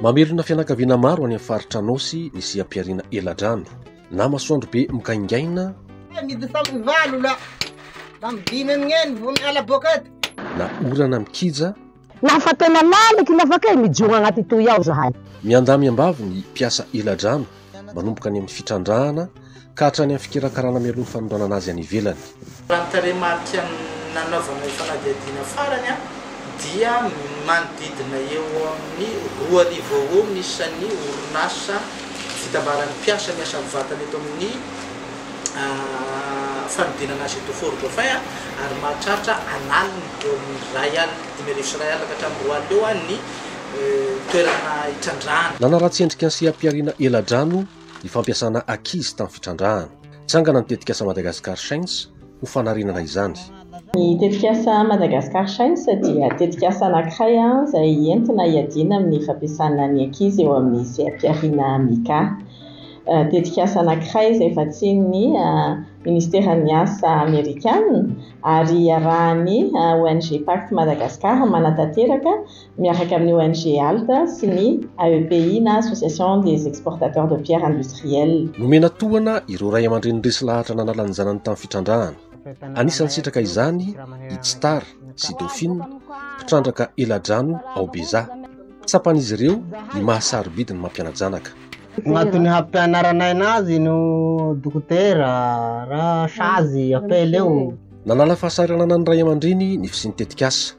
Mamerina fianakaviana maro any amin'ny faritra Anôsy ny seha-pihariana eladrano. Na masoandro be mikaingaina, na orana mikija, Naha fa tena lalaky ny afaka e, mijoro agnaty toy ao zahay. Miandamy am-bavy ny mpiasa eladrano manomboka any amin'ny fitrandrahana ka hatrany amin'ny fikarakarana mialoha ny fanondranana azy any ivelany. Raha ny tarehimarika nanaovana io fanadihadiana farany dia manodidina eo amin'ny roa arivo eo ho eo ny isan'ny orinasa fitambaran'ny mpiasa miasa mivantana eto amin'ny fanodinana azy eto Fort Dauphin ary mahatratra an'aliny eo amin'ny iray alina, dimy arivo sy iray alina ka hatramin'ny roa alina eo ny toerana itrandrahana. Nanaratsy endrika ny seha-pihariana eladrano ny fampiasana ankizy tamin'ny fitrandrahana. Trangana ny tetikasa Madagascar Shines ho fanarenana izany. Ny tetikasa Madagascar Shines dia tetikasa anankiray izay entina hiadiana amin'ny fampiasana ny ankizy eo amin'ny seha-pihariana Mica. Tetikasa anankiray izay vatsian'ny Minisiteran'ny Asa Amerikana ary iarahan'ny ONG Pact Madagascar manatanteraka. miaraka amin'ny ONG Alt sy ny AEPI na Association des Exportateurs de Pierres Industrielles. Nomena tohana ireo ray aman-dreny resy lahatra nanala ny zanany tamin'ny fitrandrahana. Anisan'ny sitraka izany i Tsitara sy Dauphine, mpitrandraka eladrano ao Beza. Tsapan'izy ireo ny maha-sarobidy ny mampiana-janaka. Agnatin'ny hampianaranay anazy no dokotera ra sazy apela eo. Nanala fahasahiranana ny ray aman-dreny ny fisian'ny tetikasa.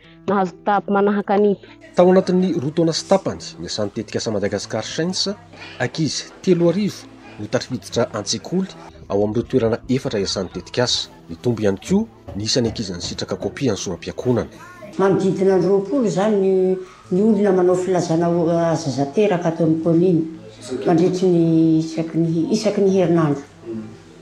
Nahazo kitapo manahaka ny. Tao anatin'ny roa taona sy tapany, niasan'ny tetikasa Madagascar Shines, ankizy telo arivo no tafiditra an-tsekoly ao amin'ireo toerana efatra iasan'ny tetikasa. Nitombo ihany koa ny isan'ny ankizy nisitraka kopia an'ny soram-piakonana. Manodidina ny roapolo izany ny olona manao filazana ho azy zateraka ato amin'ny kaominina mandritry ny isaky ny isaky ny herinandro.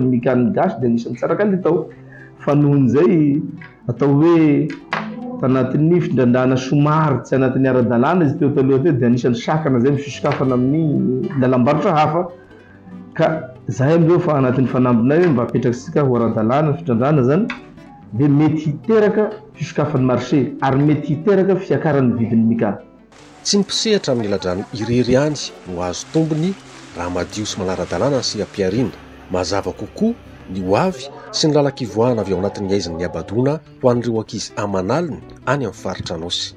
Ny gamin'ny gasy dia anisan'ny tsara kalitao fa nohon'izay atao hoe tanatin'ny findrandrana somary tsy anatin'ny ara-dalàna izy teo taloha teo dia anisan'ny sakana izay misosokafana amin'ny lalam-barotra hafa ka izay amin'izao fa anatin'ny fanambinay hoe mba apetrakisika ho ara-dalàna ny findrandrana izany dia mety hiteraka fisokafan'ny marché ary mety hiteraka fiakaran'ny vidin'ny migaha. Tsy ny mpisehatra amin'ny ladrano irery ihany no hahazo tombony raha madio sy manara-dalàna ny seha-pihariana. Mazava kokoa ny ho avy sy ny lalan-kivoahana avy ao anatin'ny haizina nihabadoana ho an'ireo ankizy aman'aliny any amin'ny faritra Anôsy.